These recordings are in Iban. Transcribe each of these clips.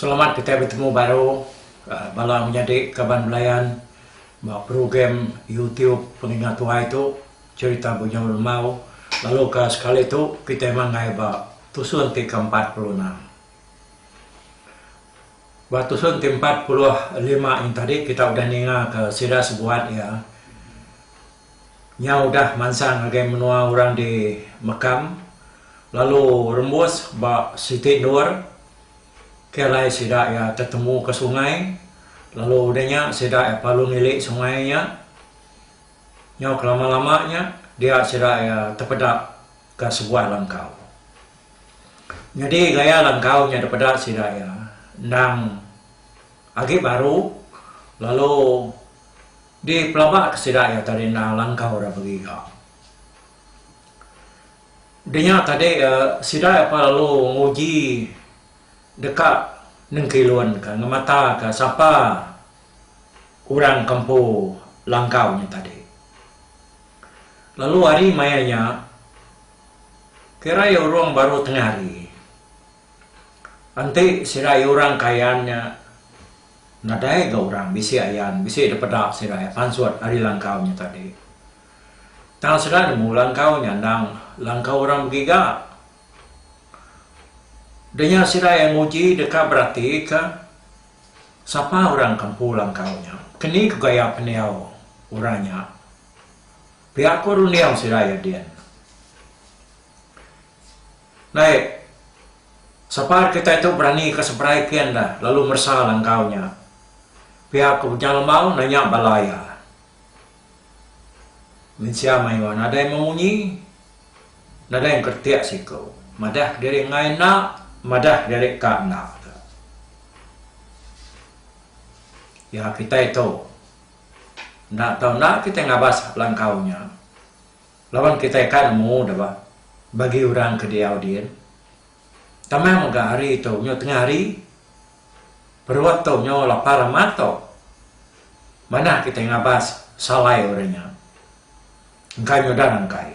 Selamat kitai betemu baru bala menyadi kaban belayan ba program YouTube Pengingat Tuai tu, Cerita Bunyau Lemau lalu ka sekali tu kitai manggai ba tusun ti ke empat puluh enam. Ba tusun ti empat puluh lima nya tadi kita udah ninga ka sida sebuat iya. Nya udah mansang ngagai menua orang di Mekam lalu rembus ba Siti Endur ke alai sida iya tetemu ke sungai lalu udah nya sida iya palu nili sungai nya nyau kelama-lama nya dia sida iya tepeda ke sebuah langkau. Nyadi gaya langkau nya dipeda sida iya endang agi baru lalu. Di pelaba ke sida iya tadi enda langkau ira begiga. Denya tadi sida iya pa lalu nguji deka nengkilunka ngemataka sapa orang ke empu langkau nya tadi. Lalu hari maya nya kira iya urung baru tengah hari enti sida iya orang kayan nya. Nadai ga orang bisi ayan bisi dipeda serai pansut ari langkau nya tadi. Tang sida nemu langkau nya endang langkau orang begiga. Denya sida iya nguji deka beratika sapa orang ke empu langkau nya, keni ku gaya pendiau orang nya. Pia ku runding sida iya din. Naib, Sapa kitai tu berani ke seberai kin da lalu meresa langkau nya? pia ke Bujang Lemau nanya bala iya. Mensia mayuh nadai memunyi, nadai engkeretik siku, madah kediri enggai enda, madah kediri ka enda tu. Pia kitai tu, enda tau enda kitai ngabas langkau nya. Laban kitai ka nemu deba bagi orang ke diau din. Tama mega hari tu nyu tengah hari. Perut tu nyu lapar amat tu. Manah kitai ngabas salai orang nya. Engka nyudah rangkai.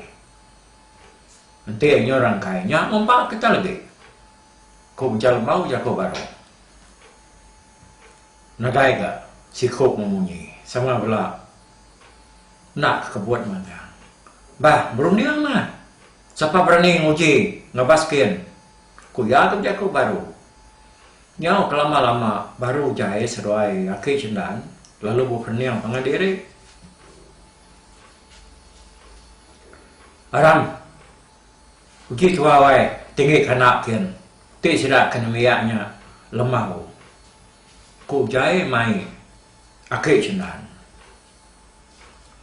Enti nyu rangkai nya ngumpa kitai legi. Ku Ujar Lembau jaku baru. Nadai ga siku memunyi sama bela. Enda ke kebuat magang. Bah, berunding mah. Sapa berani nguji ngelabas kin? Ku iya ke bejaku baru. Nyau kelama-lama baru jai seduai aki Sendan lalu bepening pangan diri. Aram, uji tua wai tinggi ke enda kin. Ti sida ke nembiak nya lembau. Ku jai mai aki Sendan.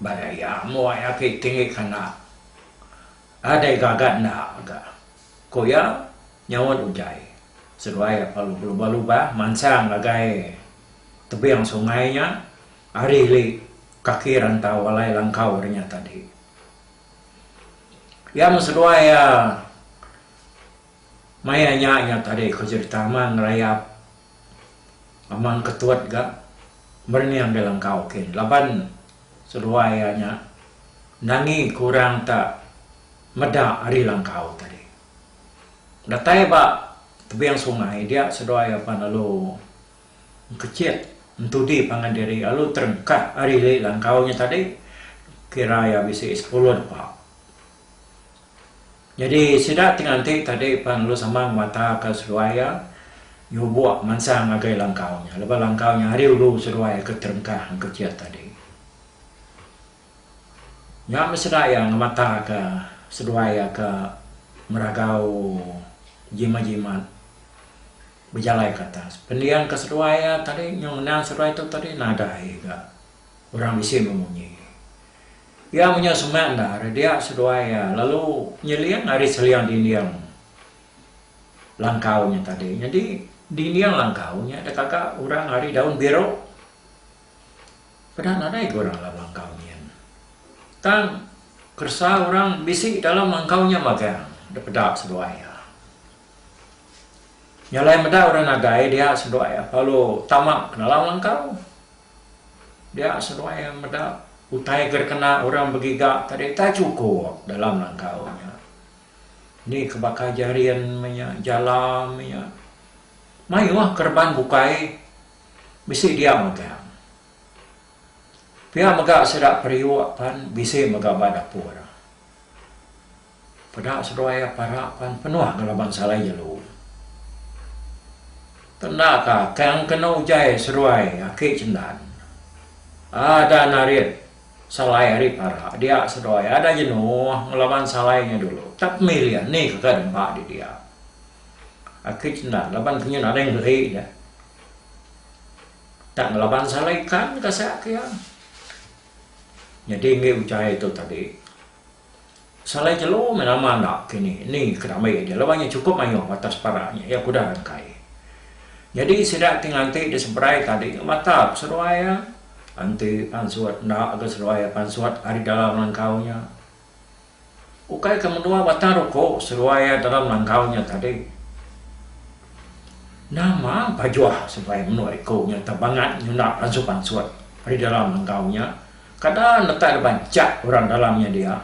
Ba Dayak muai agi tinggi kandang. Nadai gaga enda mega. Ku iya nyaut utai seduai apai pelubah lubah mansang ngagai tebing sungai nya ari li kaki rantau alai langkau ri nya tadi. Iya meh seduai iya maya nya nya tadi ku Sri Tama ngerayap. Amang Ketut ga merening ga langkau kin laban seduai iya nya nangi ke orang ta meda ari langkau tadi. Datai ba tebing sungai dia seduai iya pan lalu engkechit entudi pangan diri lalu terengkah ari langkau nya tadi kira iya bisi sepuluh depa. Nyadi sida ti nganti tadi pan lalu sama ngemataka seduai iya nyubok mansang ngagai langkau nya laban langkau nya ari ulu seduai ke terengkah engka kiat tadi. Nya meh sida iya ngemataka seduai iya ke meragau jimat-jimat bejalai ke atas. Pendian ke seduai iya tadi nyau ngenang seduai tu tadi nadai ga orang bisi meh munyi. Iya menyau semak endar dia seduai iya lalu nyeling ari seling dinding langkau nya tadi. Nyadi dinding langkau nya dekaga orang ari daun biru. Peda nadai ga orang dalam langkau nyin. Tang keresa orang bisi dalam langkau nya magang dipeda seduai iya. Nya alai meda orang nadai dia seduai iya lalu tama ke dalam langkau. Dia seduai iya meda utai ke dikena orang begiga tadi utai chukup dalam langkau nya. Ni ke baka jerin meh nya jala meh nya mayuh kereban bukai bisi dia megang. Pia mega sida periuk pan bisi mega ba dapur. Peda seduai iya parak pan penuh ke laban salai jelu. Ke enda ka tang kena ujai seduai aki cendan. Ada narit salai ari parak dia seduai ada jenuh ngelaban salai nya dulu tak pemilih ni ke ka dempa di dia. Aki cendan laban ke nya nadai ngeri dia. Tak ngelaban salai ikan ka sak ke iya. Nyadi enggi ujai tu tadi. Salai jelu meh lama enda kini ni ke rambi aja laban nya chukup mayuh atas parak nya iya kudah rangkai. Nyadi sida ti nganti diseberai tadi ke mata ke seduai iya enti pansut enda ke seduai iya pansut ari dalam langkau nya. Ukai ke menua batang ruku seduai iya dalam langkau nya tadi. Nama pajuh seduai menua iku nya tebangat nyunda pansut-pansut ari dalam langkau nya. Kada netai laban chak orang dalam nya dia,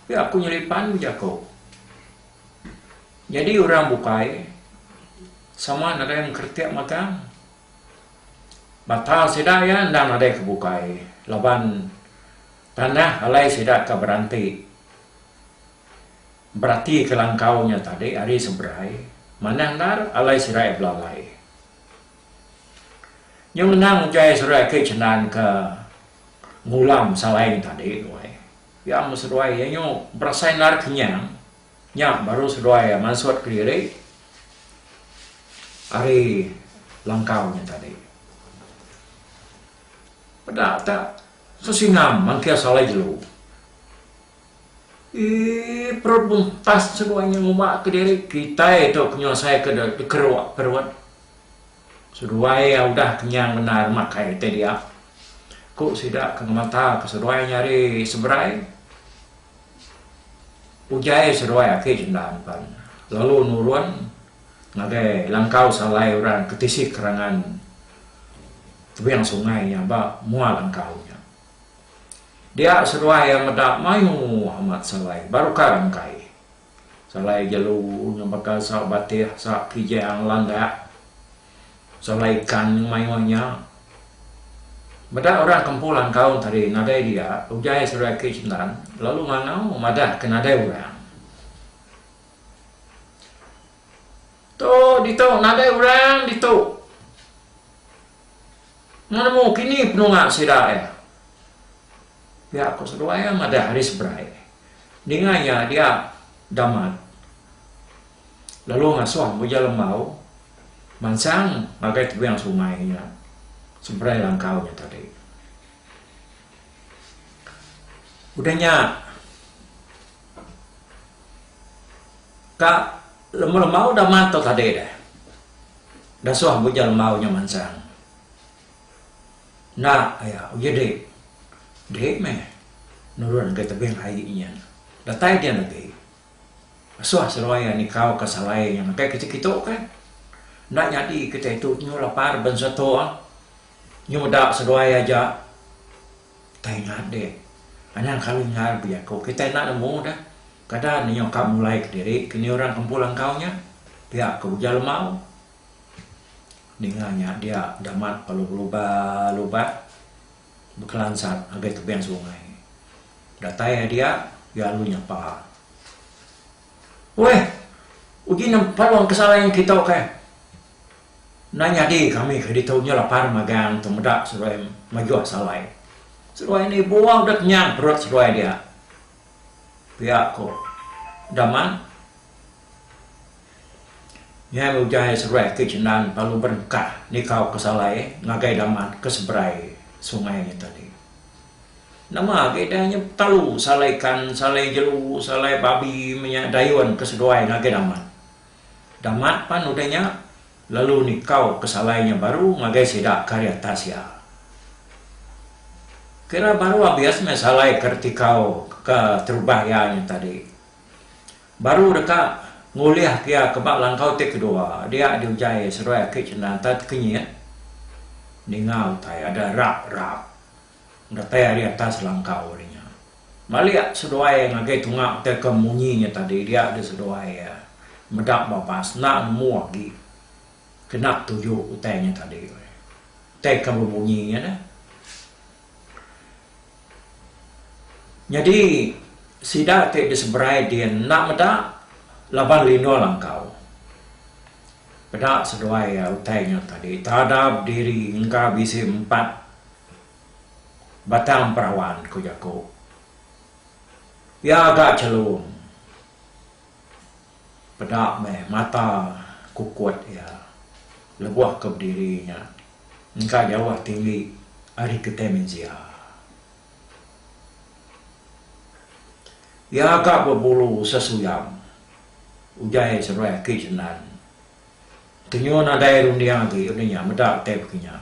tapi aku nyelipan ku jaku. Nyadi orang bukai sama nadai mengkretik magang. Mata sida iya endang nadai ke bukai laban tanah alai sida ka beranti beratika langkau nya tadi ari seberai manah endar alai sida iya belalai. Nyau ngenang utai seduai ake cha nan ka ngulam salaing tadi tuai. Pia mun seduai iya nyu berasai narit kenyang nya baru seduai mansut kediri ari langkau nya tadi. Peda ta sesingam mangkir salai jelu. Ii Perut muntas seduai nya ngumaka diri kitai tu ke nyelesaiaka dikeruk perut. Seduai iya udah kenyang bendar makai kitai dia, ku sida ke ngemataka seduai nyadi seberai. Ujaie seduai aki Sendang pan lalu nurun ngagai langkau salai orang ke tisi kerangan tebing sungai nya ba mua langkau nya. Dia seduai iya meda mayu amat salai baru ka engkai. Salai jelu nyebaka sa batih sa kijang landak. Salai ikan nyeng mayu nya. Meda orang kempu langkau tadi nadai dia ugai seduai ke Shendan lalu ngangau madah ke nadai orang. Tu ditu nadai orang ditu. Nemu kini penunga sida iya. Pia ko seduai iya madah ari seberai. Ninga iya dia Damat lalu ngasuh Mujal Lembau mansang ngagai tebing sungai iya seberai langkau iya tadi. Udah nya ka. Lemu lemau udah mat tau tadi deh. Dah suah bujang lemau nya mansang. Enda aya uji diri. Diri meh nurun ngagai tebing ai nyin. Datai dian agi. Dah suah Seruai iya nikau ka salai nya ngagai kitai kitu ke. Enda nyadi kitai tu nyu lapar ben setu. Nyu meda seruai aja. Kitai enda deh. Anang kali enggau lebih aku. Kitai enda nemu dah. Kada nih nyau ka mulai kediri ke nih orang kempul engkau nya. Pia ke ujar Lemau. Ninga nya dia Damat lalu belubah lubah bekelansat ngagai tebing sungai. Datai ari dia, iya lalu nyapa. Weh! Uji nempa orang ke salai ngan kita ukai. Enda nyadi kami ke ditu nya lapar magang tu meda seruai majuh salai. Seruai ni buah udah kenyang perut seruai dia, pia ku Daman. Nya meh ujar seruai ati Chendan lalu berengkah nikauka salai ngagai Daman ke seberai sungai nya tadi. Nama agi deh nya betalu salai ikan, salai jelu, salai babi meh nya dayun ke seduai ngagai Daman. Damat pan utai nya, lalu nikau pesalai nya baru ngagai sida ke ari atas iya. Kira baru abis meh salai ke ditikau ke terubah iya nya tadi. Baru deka ngulihka iya ke ba langkau ti kedua dia diujai seruai aki cendanta ti kenyit. Ninga utai ada rap-rap. Datai ari atas langkau ari nya. Balik seduai ngagai tunga utai ke munyi nya tadi dia di seduai ia meda babas enda nemu agi kena tuju utai nya tadi weh. Utai ke bemunyi nya neh. Nyadi sida ti di seberai din enda meda laban lindur langkau. Peda seduai ia utai nya tadi. Tadap diri engka bisi empat Batang perawan ku jaku. Pia ga chelung. Peda meh mata kukut iya lebuh ke bediri nya engka jauh tinggi ari kitai mensia. Iya ga bebulu sesuyang. Ujar iya seruai aki Jenan. Tenyuh nadai runding agi lalu nya meda utai bekinya.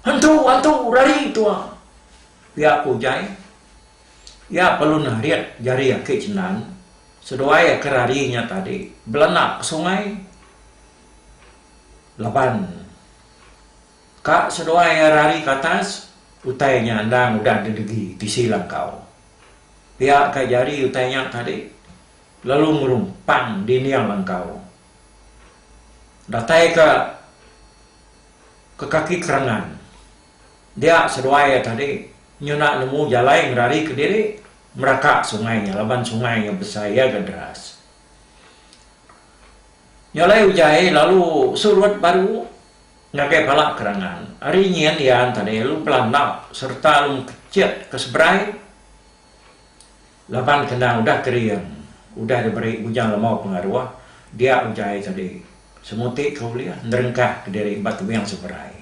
Hantu! Hantu! Rari tua! Pia ku Ujai. Iya palun ngerit jari aki Cendan. Seduai iya ke rari nya tadi belanda ke sungai laban ka seduai iya rari ke atas utai nya endang udah didegi tisi langkau. Pia ka jari utai nya tadi. Lalu ngelumpang dinding langkau. Datai ka ke kaki kerangan. Dia seduai iya tadi nyuna nemu jalai ngerari kediri meraka sungai nya laban sungai nya besai iya ga deras. Nya alai ujai lalu surut baru ngagai pala kerangan. Ari nyin iya tadi lalu belandap sereta lalu mekechit ke seberai. Laban kendang udah kering, udah diberi bujang lemau pengaruh, dia utai tadi semuti ke ulih nerengkah ke diri ba tebing seberai.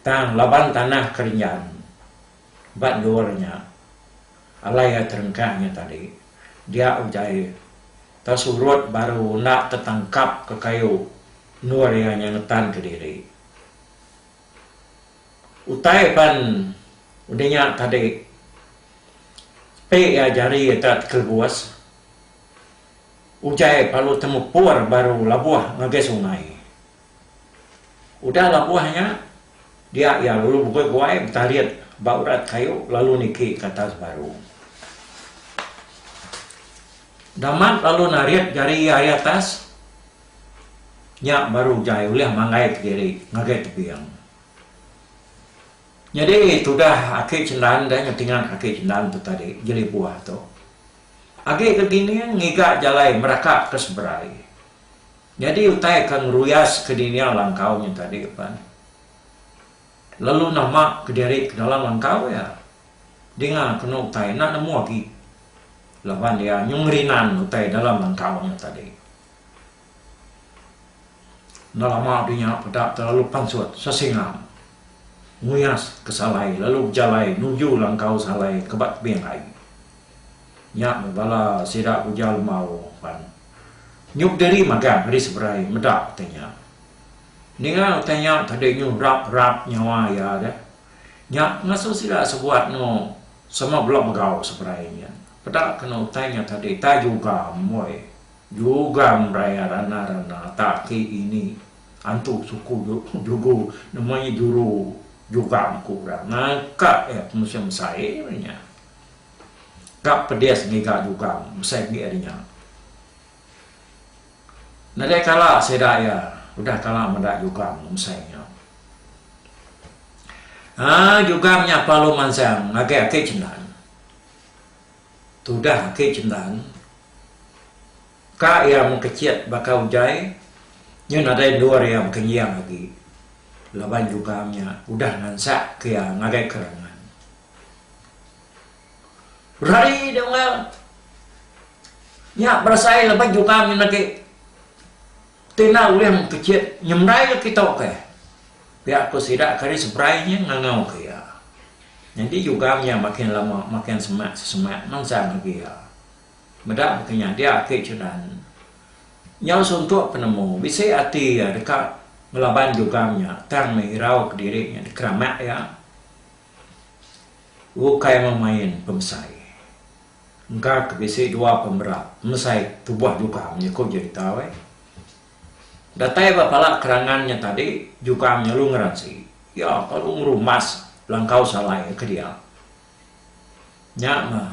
Tang laban tanah ke renjan ba endur nya alai iya terengkah nya tadi, dia utai tau surut baru enda tetangkap ke kayu endur iya nya ngetan ke diri. Utai pan udah nya tadi sepi iya jari deka tekelebus. Ujai parlu temepur baru labuh ngagai sungai. Udah labuh nya dia iya lalu begoi-goi betarit ba urat kayu lalu niki ke atas baru. Dah mat lalu narit jari iya ari atas. Nya baru jai ulih manggai ke diri ngagai tebing. Nyadi tudah aki Chendan deh ngetingan aki Chendan tu tadi jeli buah tu. Agi ke Gining ngiga jalai meraka ke seberai. Nyadi utai ke ngeruyas ke dinia langkau nya tadi pan. Lalu nama ke diri ke dalam langkau iya. Dinga kenu utai enda nemu agi. Laban iya nyengerinan utai dalam langkau nya tadi. Enda lama deh nya peda te lalu pansut sesingang nguyas ke salai lalu bejalai nuju langkau salai ke ba tebing ai. Nya meh bala sida ke ujar Lemau pan nyuk diri magang ari seberai meda utai nya. Ninga utai nya tadi nyuh rap rap nyawa iya deh. Nya ngasuh sida sebuat engo sama bela megau seberai nya. Peda keno utai nya tadi tai juga amboi. Jugang raya rana rana ta ki ini antu suku jugu nama nya juru jugang ku orang ngangka iya penusah mesai ari nya ka pedis ngiga jugang mesai agi ari nya nadai kala sida iya udah kala meda jugang mesai nya aaa jugang nya perlu mansang ngagai ake cendal. Tudah ake cendan ka iya mengkechet baka ujai nyen nadai endur iya bekenjing agi laban jugang nya udah ngansak ke iya ngagai kerangan. Berari deh Unggal. Nya berasai laban jugang nyen agi. Tina Uleng Pechit nyemerai kitu ke pia ku sida ke ari seberai nya ngangau ke iya. Nyadi jugang iya makin lama makin semak sesemak mansang agi iya. Meda baka nya dia agi Chudan nyau suntuk penemu bisi ati iya deka ngelaban jugang nya tang meh irau kediri nya dikeramat iya ukai memain pemesai. Engka ke bisi dua pemera mesai tubuh jukang nya ku jerita weh. Datai ba pala kerangan nya tadi jukang nya lu ngeransi iya kelalu ngerumas langkau salai iya ke dia. Nya meh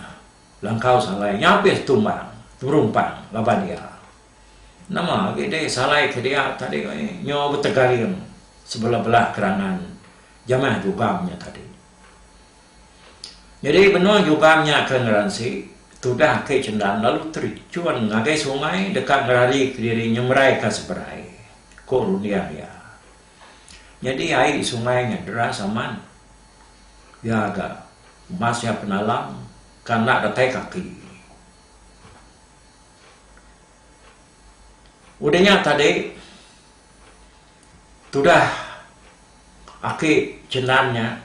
langkau salai nya abis tumbang teberumpang laban dia. Nama agi deh salai ke dia tadi weh nyo betegaring sebelah-belah kerangan jamah jukang nya tadi. Nyadi benung jugang nya ke ngeransi tudah aki cendang lalu terjun ngagai sungai deka ngerarika diri nyemeraika seberai, ku runding iya. Nyadi ai sungai nya deras amat. Iya ga mas iya penalang ke enda datai kaki. Udah nya tadi. Tudah aki Chendan nya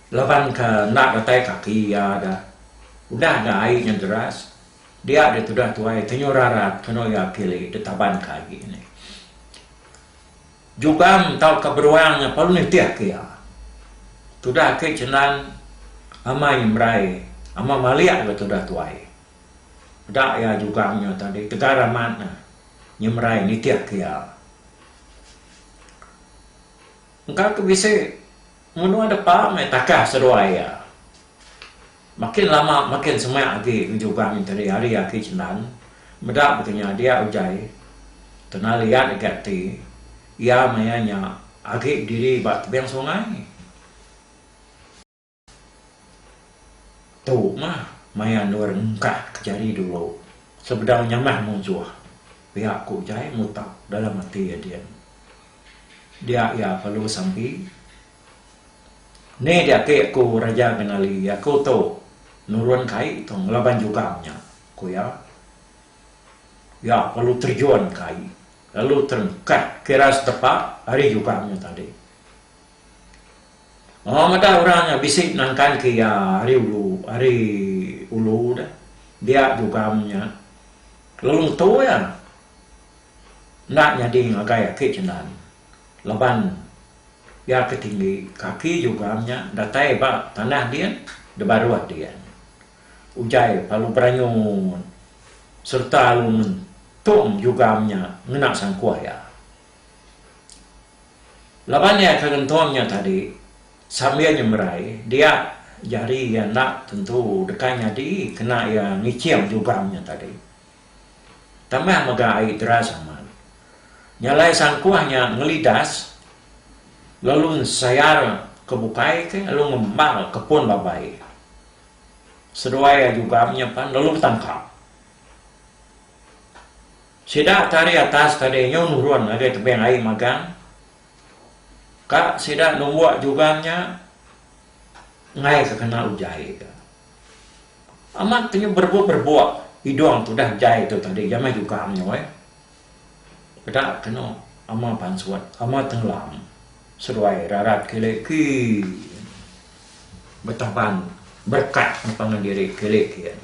laban ka enda datai kaki iya da. Udah da ai nya deras dia da tudah tuai tenyu rarat keno iya kili da taban ka agi nih. Jugang tauka beruang nya perlu nitih ka iya. Tudah aki Chendan amai nyemrai amai malik ba tudah tuai. Peda iya jugang nya tadi tegar amat ne. nyemerai nitihka iya. Engka ke bisi, menua depa meh takah seduai iya. Makin lama makin semak agi ngejugang nyenteri ari aki Cenan meda baka nya dia ugai kena liat agi ati iya maya nya agi bediri ba tebing sungai. Tu mah maya endur engkah ke jari dulu sebedau nyamah munsuh pia ku Jai mutak dalam ati iya din. Dia iya perlu sampi. Ni dia ati aku Raja Genali aku tu nurun kai tu ngelaban jugang nya ku iya. Iya perlu terjun kai lalu terengkah kira setepak ari jugang nya tadi. Maw meda orang nya bisi nangkan ke iya ari ulu ari ulu deh dia jugam nya lalu ngetu iya enda nyadi ngagai ake jelan laban iya ke tinggi kaki jugam nya datai ba tanah din da baruh din ugai lalu beranyut serta lalu ngentung jugam nya ngena sangkuh iya. Laban iya ke ngentong nya tadi sambil nyemerai dia jari iya enda tentu deka nyadi kena iya ngiching jugang nya tadi. Tambah mega ai deras amat. Nyalai sangkuh nya ngelidas lalu nsayar ke bukai ti lalu ngembal ke pun babai. Seduai iya jugang nya pan lalu betangkap. Sida tari atas tadi nyu nurun ngagai tebing ai magang ka sida numbuk jugan nya enggai ka kena ujai ka. Amat ke nyu berebuk-berebuk idung tudah ujai tu tadi iya meh jugang nyu ai. Peda kenu ama pansut, ama tenggelam seduai rarat kili kin betaban berekat empangan diri kili kin.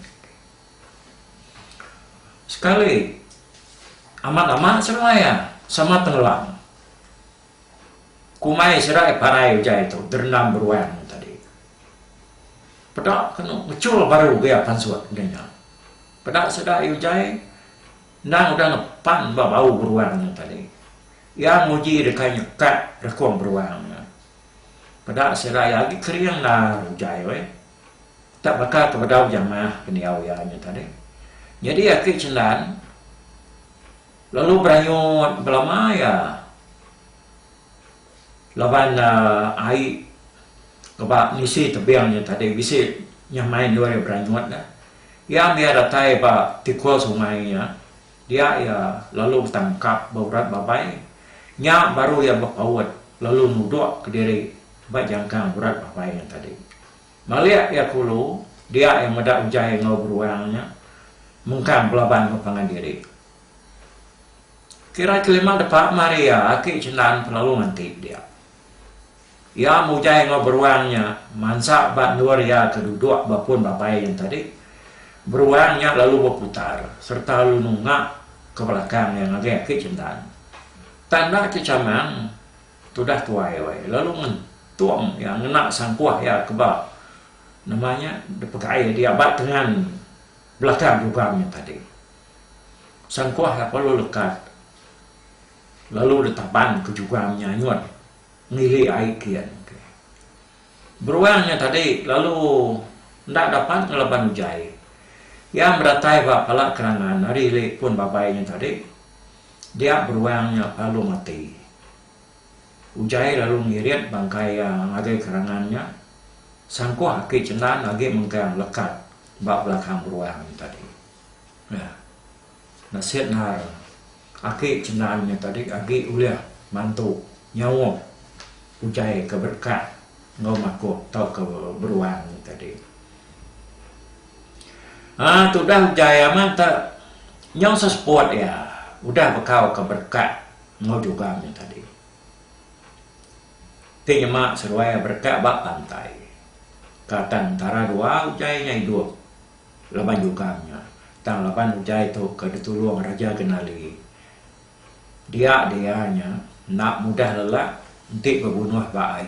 Sekali, amat amat seruai iya sama tenggelam. Kumai serai parai utai tu derendam beruang tadi. Peda kenu ngechul baru ke iya pansut enti nya. Peda serai utai endang udah ngepan ba bau beruang nya tadi. Iya nguji deka nyekak rekung beruang nya. Peda serai agi kering endar utai weh. Tak baka ke bedau jamah pendiau iya nya tadi. Nyadi aki Chendan lalu beranyut belama iya laban ai ke ba ngisi tebing nya tadi bisi nyamai endur iya beranyut nya. Iya mih iya datai ba tikul sungai nya dia iya lalu betangkap ba urat babai nya baru iya bepaut lalu nudok kediri. Ba jangkang urat Babai nya tadi. Malik iya kulu, dia iya meda ujai enggau beruang nya mengkang belaban ba pangan diri. Kira kelima depa mari iya aki Cendan ke lalu nganti dia. Iya mujai enggau beruang nya mansa ba endur iya ke duduk ba pun Babai nya tadi. Beruang nya lalu beputar sereta lalu nunga ke belakang iya ngagai aki Cendan. Tang enda ke chamang. Tudah tuai alai lalu ngentung iya ngena sangkuh iya ke ba nama nya dipegai dia ba tengan belakang dugang nya tadi. Sangkuh iya perlu lekat lalu ditaban ke dugang nya anyun ngili ai kian. Beruang nya tadi lalu enda dapat ngelaban ujai. Iya beratai ba pala kerangan ari ili pun babai nya tadi. Dia beruang nya lalu mati. Ujai lalu ngirit bangkai iya ngagai kerangan nya. Sangkuh aki Cendan agi mengkang lekat ba belakang beruang nya tadi. Nah, nasit endar Aki cendal nya tadi agi ulih mantu nyaup ujai ke berekat enggau makuh tauka beruang nya tadi. Haa tudah ujai amat te nyau seseput iya udah bekauka berekat enggau jugang nya tadi. Ti nyema seruai berekat ba pantai. Ka tang entara dua ujai nya idup. Laban jugang nya, tang laban utai tu ke ditulung Raja Genali, dia dia nya enda mudah lelak enti bebunuh ba ai.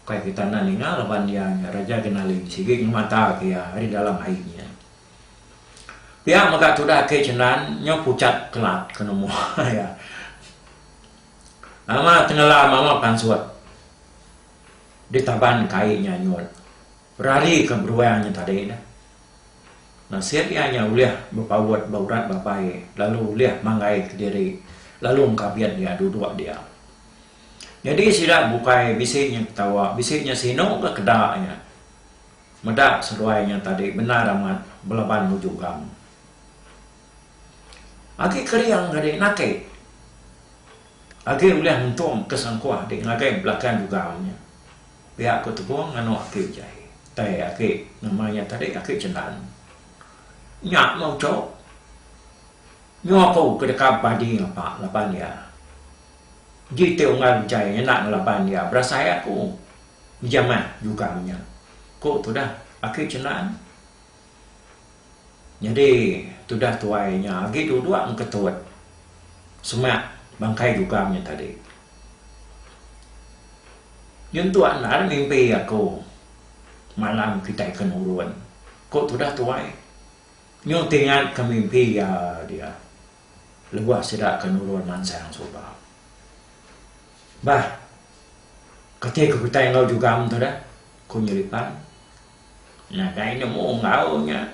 Ukai kita enda ninga laban dia nya Raja Genali sigi ngemata ke iya ari dalam ai nya. Pia mega tudah ake Cenan nyau pucat kelat ke nemu iya. Nama tengelam ama pansut ditaban ke ai nya nyut. Rari ka beruang nya tadi dah. Nasit iya nya ulih bepaut ba urat babai lalu ulih manggai kediri lalu engkabit dia duduk dia. Nyadi sida bukai bisi nya ketawa bisi nya sinu ka keda nya. Meda seduai nya tadi bendar amat belaban nuju gang. Agi kering ga di naki. Agi ulih ngentum ke sangkuh di ngagai belakang gegam nya. Pia aku tebong nganu aki utai. Utai aki nama iya tadi aki cendan. Nya meh uco. Nyu aku ke deka badi ngapa laban iya. Ji ti unggal utai ngena ngelaban iya berasai aku. Uja meh juga nya. Ku tudah aki cendan. Nyadi tudah tuai nya agi duduk engketut semak bangkai Jugam nya tadi. Nyentuk endar mimpi aku malam kitai ke nurun, ku tudah tuai. Nyau ti ingatka mimpi iya dia lebuh sida ke nurun mansang suba. Bah, kati ku kitai enggau Jugam tu dah? ku Nyelipan. Nadai nemu enggau nya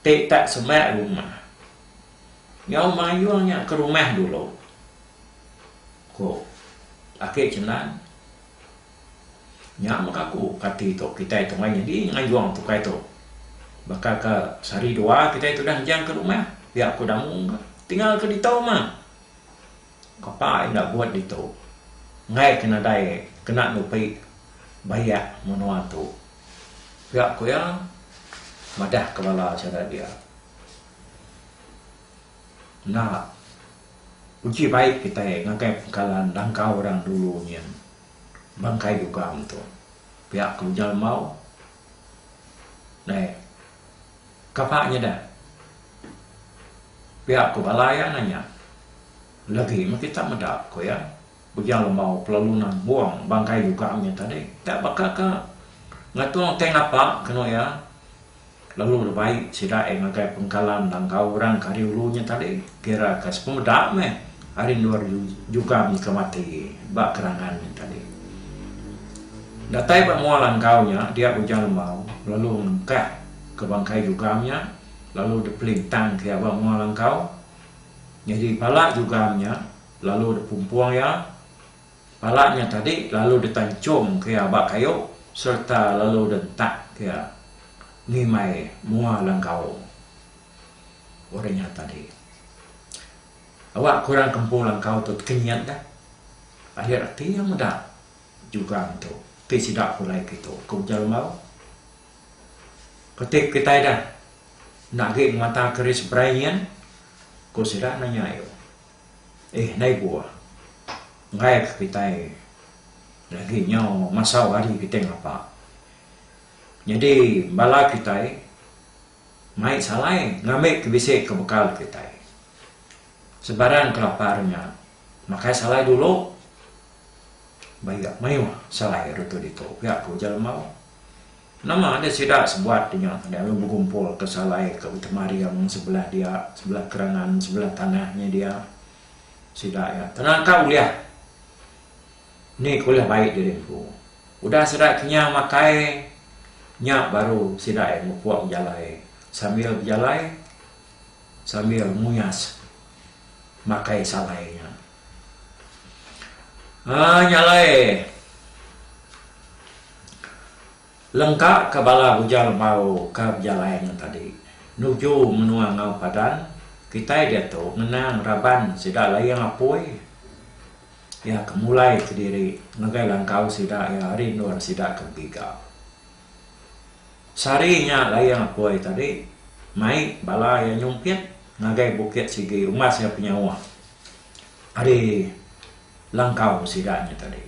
ti tak semak rumah. Nyau mayuh nya ke rumah dulu, ku Aki Chendan. Nya mega ku kati tu kitai tengah nyadi ngayung tukai tu. Baka ke sehari dua kitai tudah ngejang ke rumah pia ku Damu mega tinggal ke ditu mah. Kepa enda buat ditu. Enggai ke nadai kena nupi bayak menua tu. Pia ku iya madah ke bala chara dia. Enda uji baik kitai ngagai pengkalan langkau orang dulu nyin bangkai dugang tu. Pia ku Ujal Mau. Dai kapa nyada pia ku bala iya nanya lagi meh kita meda ku iya. Bejang lembau pelalu nan mbuang bangkai juga nya tadi ka baka ka ngatung tei ngapa kenu iya lalu lebai sida iya ngagai pengkalan langkau orang ke ari ulu nya tadi kira ka sepemeda meh ari endur juga nyeka mati ba kerangan nya tadi. Datai ba mua langkau nya dia bejang lembau lalu ngengkah ka bangkai juga nya lalu dipelintang ka iya ba mua langkau nyadi pala juga nya Lalu dipumpung iya pala nya tadi lalu ditanchum ke iya ba kayu sereta lalu dientak ke iya ngimai mua langkaung orang nya tadi. Awak ke orang ke empu langkau tu tekenyit dah adir ati iya meda jugang tu ti sida pulai kitu ke ujar Lembau. Keti kitai dah enda agi ngemata ke ari seberai nyin? ku sida nanya iya. Eh ndai buah. Enggaika kitai lagi nyau masau hari kitai ngapa. Nyadi bala kitai mai salai ngambika bisi ke bekal kitai. Sebarang ke lapar nya makai salai dulu bayak mayuh salai retu ditu pia ku Ujan Lembau. Nama nya sida sebuat nya tadi ami bekumpul ke salai ke Betemaring sebelah dia sebelah kerangan sebelah tanah nya dia sida nya tenaka ulih ni ke ulih baik diri empu udah sida kinya makai nya baru sida iya mupuk bejalai sambil bejalai sambil nguyas makai salai nya um nya alai. Lengka ka bala bujal bau ka bejalai ngetadi nuju menua enggau padan kitai diatu ngenang raban sida Layang Apoi iya ke mulai kediri ngagai langkau sida iya ari endur sida ke begiga. Sehari nya Layang Apoi tadi mai bala iya nyumpit ngagai Bukit Sigi umbas iya penyawa ari Langkau sida nya tadi.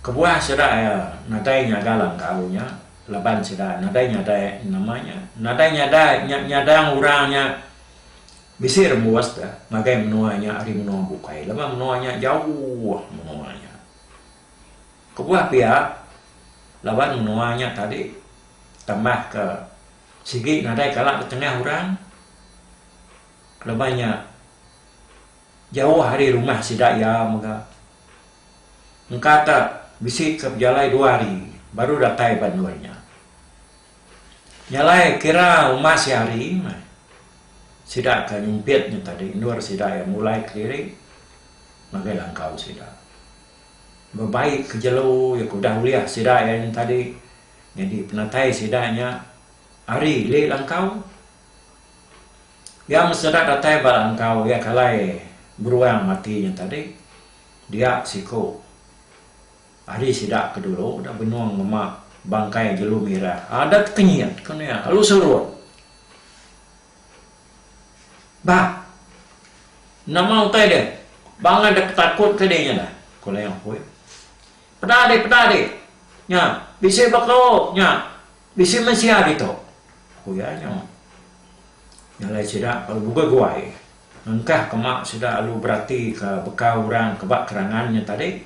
Kebuah sida iya nadai nyaga langkau nya laban sida nadai nyadai nama nya. Nadai nyadai nya nyadang orang nya bisi rembus deh ngagai menua nya ari menua bukai laban menua nya jauh menua nya. Kebuah pia laban menua nya tadi tambah ke sigi nadai kala betengah orang laban nya. Jauh ari rumah sida iya mega. Engka ka bisi ke bejalai dua hari baru datai ba endur nya. Nyalai kira uma sehari meh sida ke nyempit nya tadi endur sida iya mulai kediri ngagai langkau sida. Bebai ke jelu iya ke udah ulih sida iya nya tadi nyadi penatai sida nya ari lih langkau. Iya meseda datai bala engkau iya ke alai beruang mati nya tadi. Dia siku ari sida ke dulu udah benung ngema bangkai jelu mirah. Adat ke nyit ku nuya lalu serut. Bah, nama utai deh bangan deh petakut ke dih nya dah, ku Leong Hui. Peda dih, peda dih. Nya, bisi baka nya. Bisi mensia ditu, ku iya nyu. Nya alai sida lalu buga guai ngengkah ke mak sida lalu beratika bekau orang ke ba kerangan nya tadi.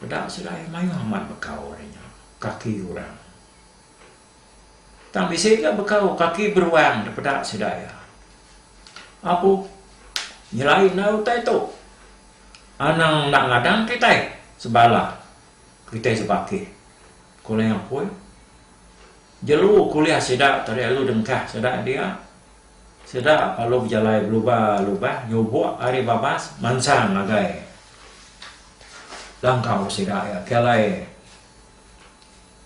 Peda sida iya mayuh amat bekau ari nya kaki orang. Tang bisi ga bekau kaki beruang da peda sida iya. Apu, nyelai endar utai tu. Anang enda ngadang kitai sebala Kitai sebakih. Ku Leng Apoi. Jelu kuliah sida tarik alu dengkah sida dia. Sida palu bejalai belubah-lubah nyubok ari babas mansang ngagai langkau sida iya ke alai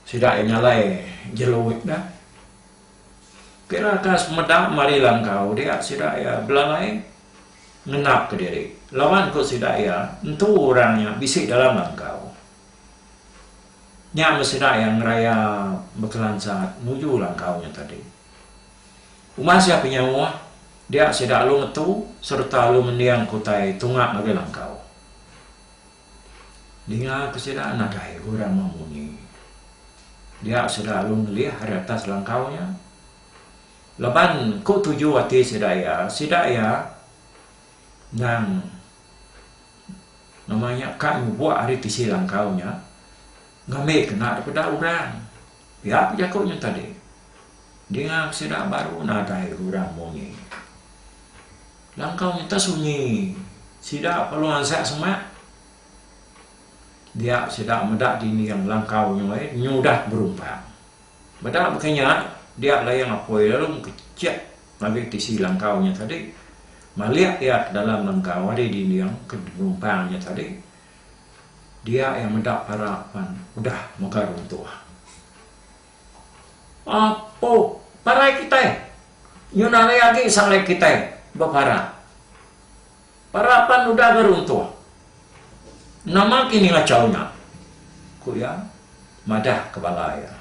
sida iya nyalai jelu nya. Pira ka semeda mari langkau dia sida iya belalai ngenapka diri laban ku sida iya entu orang nya bisi dalam langkau nya meh sida iya ngeraya bekelansat nuju langkau nya tadi. Umas iya penyauh dia sida alu metu sereta alu mendingku utai tunga ngagai langkau. Ninga ke sida nadai orang memunyi. Dia sida lalu ngelih ari atas langkau nya. Laban ku tuju ati sida iya, sida iya endang nama nya ka nyubok ari tisi langkau nya ngambi kena daripada orang. Pia ku jaku nya tadi, dinga ke sida baru nadai orang munyi. Langkau nya tesunyi sida perlu ansak semak. Dia sida meda dinding langkau nya ai nyudah berumpang. Meda baka nya, dia Layang Apoi lalu mekecek ngagai tisi langkau nya tadi, malik iya ke dalam langkau ari dinding ke berumpang nya tadi Dia iya meda para pan udah mega runtuh. Apo parai kitai nyun ari agi salai kitai bepara. Para pan udah ga runtuh. Nama ki ngachau nya? ku iya madah ke bala iya.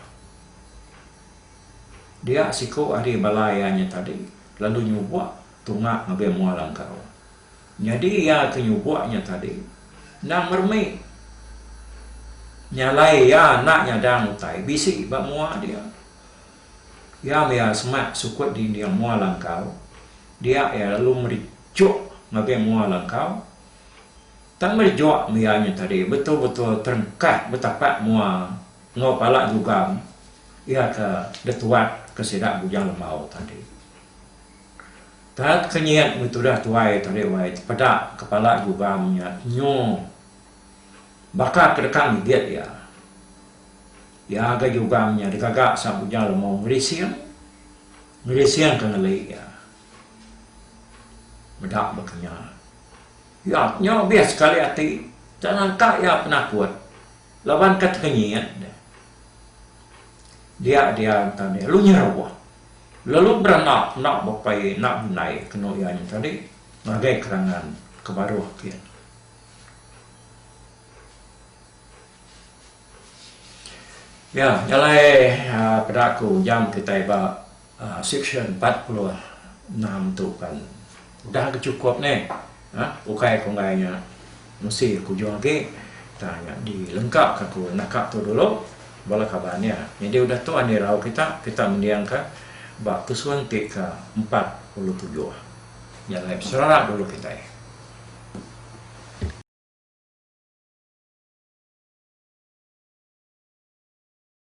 Dia siku ari bala iya nya tadi lalu nyubok tunga ngagai mua langkau. Nyadi iya ke nyubok nya tadi endang meremi nyalai iya enda nyadang utai bisi ba mua dia. Iya maya semak sukut dinding mua langkau dia iya lalu merijuk ngagai mua langkau. Tang merijuk meh iya nya tadi betul-betul terengkah betapak mua enggau pala jugang iya ke detuat ke sida Bujang Lembau tadi. Tang kenyit meh tudah tuai tadi wai tepeda kepala jugang nya nyu baka kedekang igit iya. Iya ga jugang nya digaga sap uja lemau ngelising, ngelising ke ngeli iya. Meda ba kinya. Iya nyu abih sekali ati enda nyangka iya penakut laban ka tekenyit deh. Dia dia enta deh lu nyeruh. Lalu beranak enda bepai enda bendai kenu iya nya tadi ngagai kerangan ke baruh ti. Ya, jalai aaa peda aku jam kitai ba aaa seksyen empat puluh enam tu pan. Udah ke chukup ne. Hah ukai ku enggai nya mesti kujung agi tang nya di lengka ka ku naka tu dulu bala kaban iya nyadi udah tu andi rau kita kita mending ka ba tusun ti ka empat puluh tujuh nya alai besera dulu kitai.